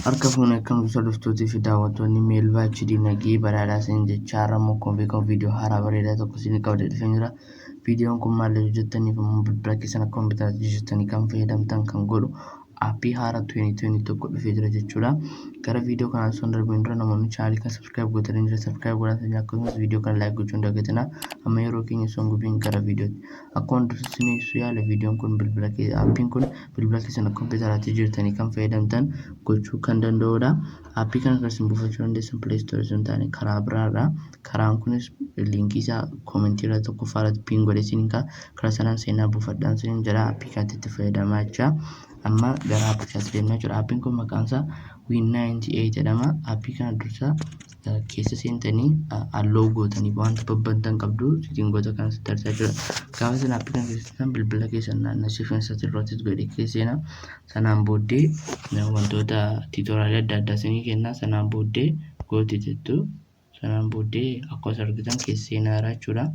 Harka fuunee akkamtu dhuftuutii fi daawwattoonni Meelvaa HD nagee badhaadhaa isin jechaa har'a immoo akkuma beekamu viidiyoo haaraa bareedaa tokko isin qabadee dhufee jira. Viidiyoon kun maal yoo jettaniif immoo bilbila keessan akkuma bitaatii jettanii kan fayyadamtan kan godhu aappii haaraa 2021 dhufee jira jechuudha. Gara viidiyoo kanaan osoo hin darbiin dura namoonni chaanaalii kana subscribe gootanii jira subscribe godhaa sanyii akkasumas viidiyoo kana like gochuun dagatina. Amma yeroo keenya osoo hin gubiin gara viidiyootti. Akkuma dursa isin ibsu yaale viidiyoon kun bilbila kee aappiin kun bilbila keessan kompiitaraatti jirtanii kan fayyadamtan gochuu kan danda'udha. Aappii kana kan isin buufachuu dandeessan Play Store osoo hin taane karaa biraadha. Karaan kunis liinkii isaa koomentii irra tokkoffaa irratti piin godhee isin kaa kara sanaan seenaa buufadhaan sinin jira appii kanatti itti fayyadamaa jecha amma gara appii kanatti deemna jechuudha appiin kun maqaan isaa win98 jedhama appii kana dursa keessa seentanii alloo gootanii wanta babbantan qabdu sitingoota kan sitti arsaa jira gaafa sana appii kana keessattan bilbila keessan naannessiifin isaatti irrattis godhe keesseena sanaan booddee wantoota tiitoraalii adda addaa sinii kennaa sanaan booddee gooti jettu Sanaan booddee akkuma argitan keessa seenaara jechuudha.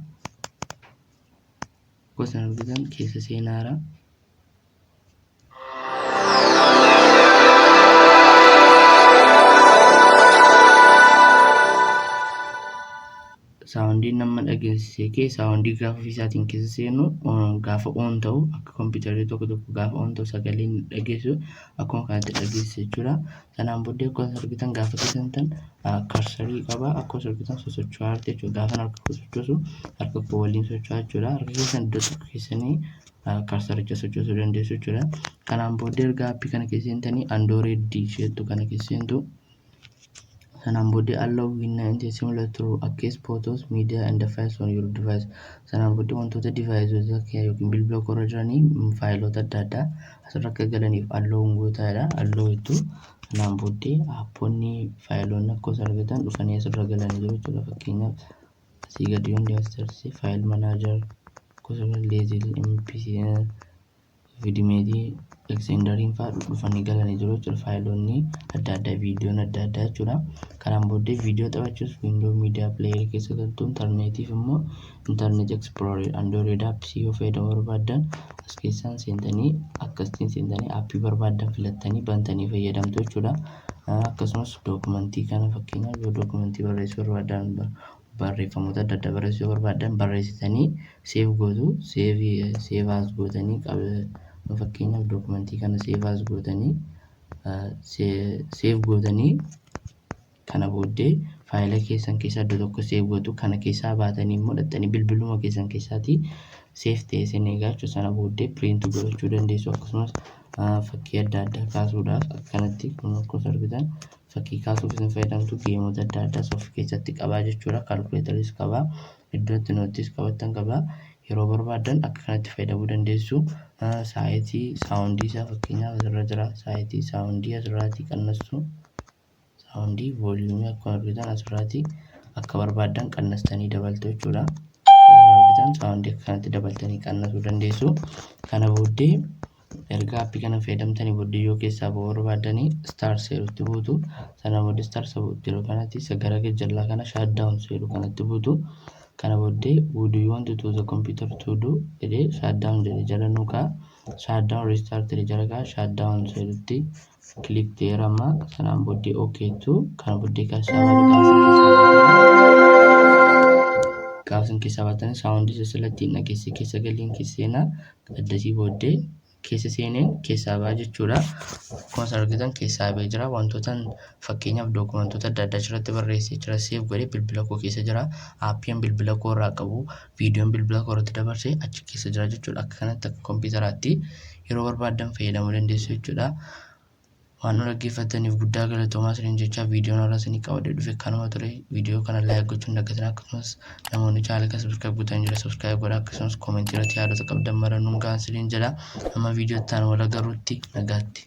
Akkuma argitan keessa seenaara. saawundii nama dhageessise kee saawundii gaafa ofiisaatiin keessa seenu gaafa oon ta'u akka kompiitarri tokko tokko gaafa oon ta'u sagalee dhageessu akkuma kanatti dhageessisa jechuudha. Sanaan booddee akkuma argitan gaafa keessantan karsarii qaba akkuma argitan sosocho'aa jirti jechuudha. Gaafa harka koo sochoosu harka koo waliin socho'aa jechuudha. Harka keessan iddoo tokko keessanii karsaricha sochoosuu dandeessu jechuudha. Kanaan booddee erga appii kana keessa seentanii andooree D isheettu kana keessa seentu. Sanaan booddee allow winna inti similar to access photos, media and files on your device. Sanaan booddee wantoota device kee yookiin bilbila koo irra jiranii faayiloota adda addaa asirra akka galaniif alloo gootaadha. Alloo jettu kanaan booddee aappoonni faayiloonni akka osoo argatan dhufanii asirra galan jiru jechuudha. Fakkeenyaaf asii gadi hundi asirratti faayil manaajar gosa leezil MPC vidimeetii eksendariin fa'aa dhufanii galanii jiru jechuudha. Faayiloonni adda addaa viidiyoon adda addaa jechuudha. Kanaan booddee viidiyoo taphachuuf viindoo miidiyaa pileeyarii keessa galtu intarneetiif immoo internet explorer android apps yoo fayyadamuu barbaaddan as keessaan seentanii akkasitiin seentanii appii barbaaddan filattanii bantanii fayyadamtu jechuudha. Akkasumas dookumentii kana fakkeenyaaf yoo dookumentii barreessuu barbaaddan barreeffamoota adda addaa barreessuu yoo barbaaddan barreessitanii seef gootu seevaas gootanii fakkeenyaaf dookumentii kana seevaas gootanii seef gootanii Kana booddee faayila keessan keessaa iddoo tokko save gootu. Kana keessaa baatanii immoo dhaqxanii bilbiluma keessan keessaatii save ta'ee isin eegaa jechuudha. Sana booddee print godhachuu dandeessu akkasumas ah, fakkii adda addaa kaasuudhaaf akkanatti kun akkuma isin argitan fakkii kaasuuf isin fayyadamtu geemota adda addaas of keessatti qabaa jechuudha. Kalkuleetaris qabaa, iddoo itti noottis qabattan qabaa. Yeroo barbaaddan akka kanatti fayyadamuu dandeessu. Ah, Saayitii saawundii isaa fakkeenyaaf asirra jira. Saayitii saawundii asirraatii qannassu. Saawundii vooliyuumii akkuma argitan asirraati akka barbaaddan qannastanii dabaltu jechuudha. Akkuma argitan saawundii akka kanatti dabaltanii qannasuu dandeessu. Kana booddee erga appii kana fayyadamtanii booddee yoo keessaa ba'uu barbaaddanii star seerutti buutu. Sana booddee star seeru kanatti isa gara gajjallaa kana shaaddaawun seeru kanatti buutu. Kana booddee would you want to the computer to do jedhee shaaddaawun jedhee jala nuu kaa'a. Shaaddaawun restart jedhee jala kaa'a. Shaaddaawun seerutti click there amma sanaan booddee ok jettu kana booddee kan gaafsan keessaa baatan saawundi isa silattiin dhageesse keessa galiin keessa seenaa addasii booddee keessa seeneen keessaa baa jechuudha akkuma isin argitan keessaa bee jira wantoota fakkeenyaaf dookumentoota adda addaa achirratti barreessee jira seef godhee bilbila koo keessa jira aappiin bilbila koo irraa qabu viidiyoon bilbila koo irratti dabarse achi keessa jira jechuudha akka kanatti akka kompiitaraatti yeroo barbaaddan fayyadamuu dandeessu jechuudha. Waan nu dhaggeeffattaniif guddaa galatoomaa isiniin jechaa viidiyoon irraa isinii qabadee dhufe kanuma ture viidiyoo kana laayik gochuun dagatina akkasumas namoonni chaanala kana sabiskiraayib gotan jira sabiskiraayib godha akkasumas koomentii irratti yaadota qabdan mara nuun ga'aa isiniin jedha amma viidiyoo itti aanu wal agarruutti nagaatti.